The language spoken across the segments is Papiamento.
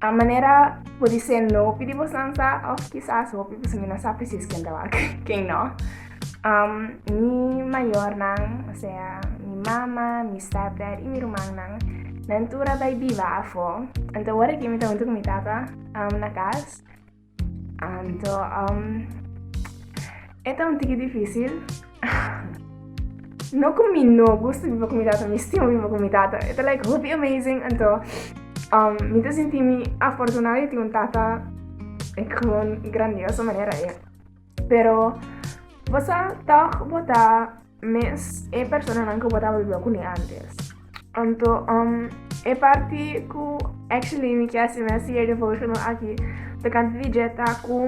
A manera bo di se nopi di bosan sa of kisas hopi bosomi no sa presis ken ta wak ken no. Um, mi mayornan, o sea, mi mama, mi stepdad y mi rumannan, nan tur a bai biba afo. Anto ora ki mi ta hunto cu mi tata um, na cas, Anto, um, e ta un tiki difícil. no con mi no gusto vivo con mi tata, mi estimo vivo con mi tata. It's like hoopy amazing. And so, um, mi te senti mi afortunada di un tata con grandiosa manera. Yeah. Pero bo sa toch bo ta mes e personanan ku bo ta biba kune antes. Anto um, e parti ku actually mi kier hasi mes hier devotional aki ta kanta di jeta ku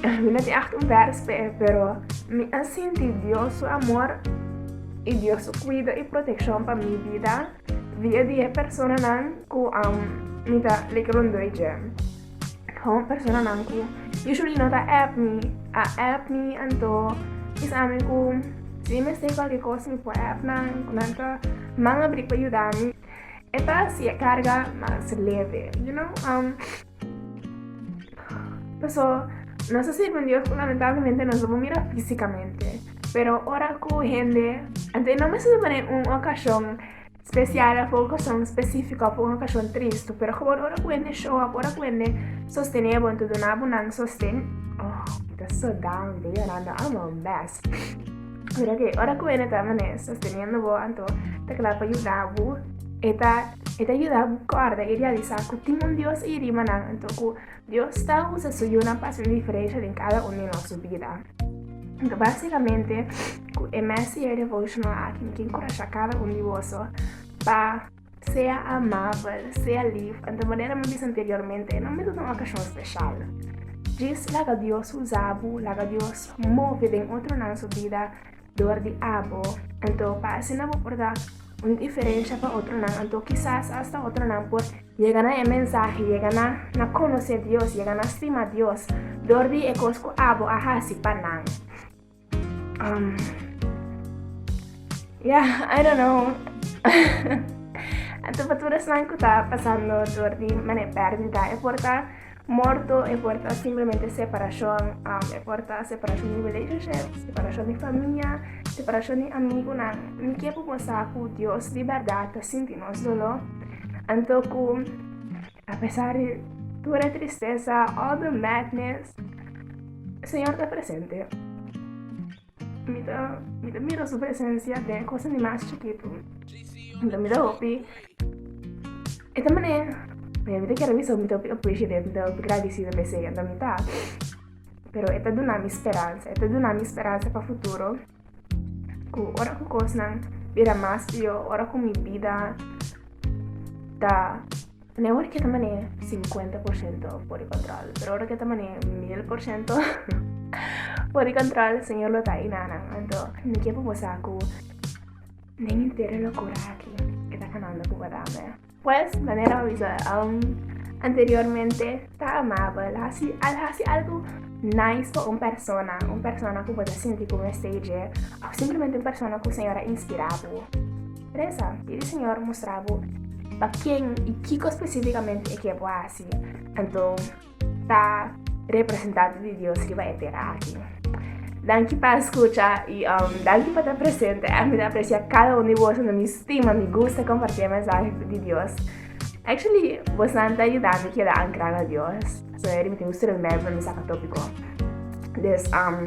mi no tin echt un vers pe e, pero mi a sinti Dios su amor i Dios su cuido i proteccion pa mi vida via di e personanan ku um, mi ta like rondoi dje. Home personanan ku usually no ta app mi, a app mi anto kisami ku si mi mester kualke kos mi por app nan ku nan ta man abri pa yuda mi. E ta hasi e karga mas leve, you know. Um, paso nos ta sirbi un Dios ku lamentablemente nos no por mira fisikamente, pero ora ku hende, ante no mester ta pone un okashon Spesial a por okashon spesífiko a por un okashon tristu, pero komo ora ku hende shon a por a ku hende sostené bo, anto duna bo nan sosten. Oh, mi ta so down, ta yorando a mon bes. Pero oké, ora ku hende ta manera sosteniendo bo, anto ta kla pa yuda bo. E ta e ta yuda bo kòrda i realisá ku tin un Dios ayi riba nan, anto ku Dios ta usa su Yunan pa hasi un diferensha den kada un di nosso bida. Então, basicamente, cu e Messenger Devotional aqui, mi quiere encorajar cada un di boso pa sea amabel, sea lief. En de manera mi dice anteriormente, no me una ocasión especial. Jis laga Dios usabu, laga Dios move den otro nan su vida, dor di abo, anto parse nan bo por da un diferensha pa otronan, anto kisas asta otronan por yega na e mensahe, yega na na konosé Dios, yega na stima Dios dor di e kos ku abo a hasi pa nan. Um, yeah, I don't know. anto pa tur esnan ku ta pasando dor di mané pèrdida, e por ta Morto e por ta simplemente separashon, e por ta separashon di relationship, separashon di famia, separashon di amigunan. Mi ke popo sa ku Dios di bèrdat ta sinti nos doló, anto ku apesar di tur e tristesa, all the madness, Señor ta presente. Mi ta mi ta mira su presencia den cosa di mas chikitu. Mi ta mira hopi. E ta mané mi ta kere bisa mi ta hopi appreciative, mi ta hopi gradicida pa esei, anto mi ta. Pero e ta duna mi speransa, e ta duna mi speransa pa futuro ku ora ku kosnan bira mas pior, ora ku mi bida ta Nè ora ke ta man'é sinkuenta por siento por di kontrol, pero ora ke ta man'é mil por siento por di kontrol, Señor lo ta einá nan. Anto mi ke pa bo sa ku den henter e lokura aki e ta kanando ku wata mi. Pues, manera mi bisa anteriormente, ta amabel, hasi al hasi algu nice pa un persona, un persona ku bo ta sinti ku mester dje, òf simplemente un persona ku Señor a inspirá bo. Teresa, i di Siñor mustra bo pa ken i kiko spesífikamente e ke bo hasi, anto ta representante di Dios riba e tera aki. Danki pa escucha i um, danki pa ta presente. A mi ta aprecia cada un di vos, no mi stima, mi gusta compartir mensaje di Dios. Actually, vos nan ta ayudando que da ancrado a Dios. So, er mi tengo un celular para mi saca tópico. Dus, um,